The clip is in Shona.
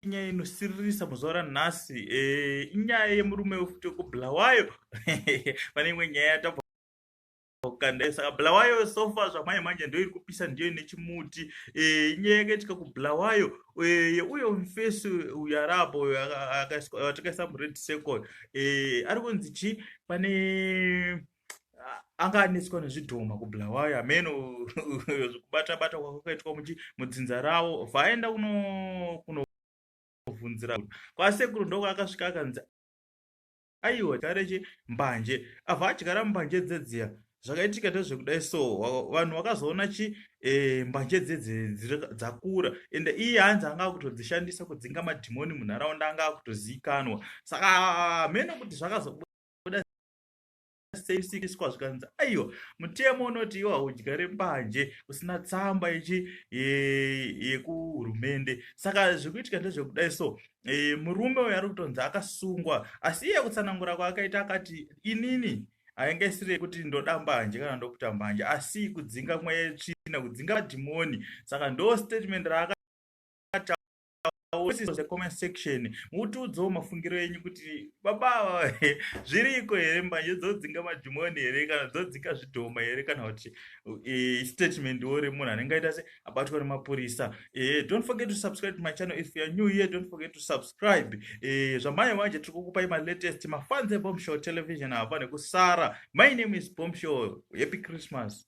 inyaya inosiririsa muzuva ranhasi eh, inyaya yemurume wefuti wekubulawayo pane imwe nyaya yatabva kukanda saka bulawayo sofa zvamai manje ndoiri kupisa ndiyo ine chimuti eh, inyaya yakaitika kubulawayo eh, yeuyo mfesi uyo arapo atakaisa mured circle ari kunzi chii pane anga anetswa nezvidhoma kubulawayo hameno zvekubata bata kwakaitwa mudzinza ravo vaenda kunovhunzira kwasekuru ndoko akasvika akanzi aiwa tareche mbanje avha adyara mbanje dzedziya zvakaitika ndezvekudai so vanhu vakazoona chi e, mbanje dzedze dzakura and iye hanzi anga akutodzishandisa kudzinga madhimoni munharaunda anga akutoziikanwa saka hameno kuti zvakazobuda seisikiswa zvikanzi aiwa mutemo unoti iwo haudyare mbanje usina tsamba ichi yekuhurumende saka zvekuitika ndezvekudai so e, murume uyo ari kutonzi akasungwa asi iye kutsanangura kwaakaita akati inini ainge isiri yekuti ndoda mbanje kana ndokuta mbanje asi kudzinga mweya yetsvina kudzinga madhimoni saka ndo statement raaka comment section mutiudzawo mafungiro enyu kuti baba ava zviriko here mbanje dzodzinga madhimoni here kana dzodzinga zvidhoma here kana kuti e, statement wo remunhu anenge aita se abatwa nemapurisa e, don't forget to subscribe to my channel if youare new here don't forget to subscribe e, zvamanye manje tiri kukupai malatest mafans ebomshow television hava nekusara my name is bomshow happy christmas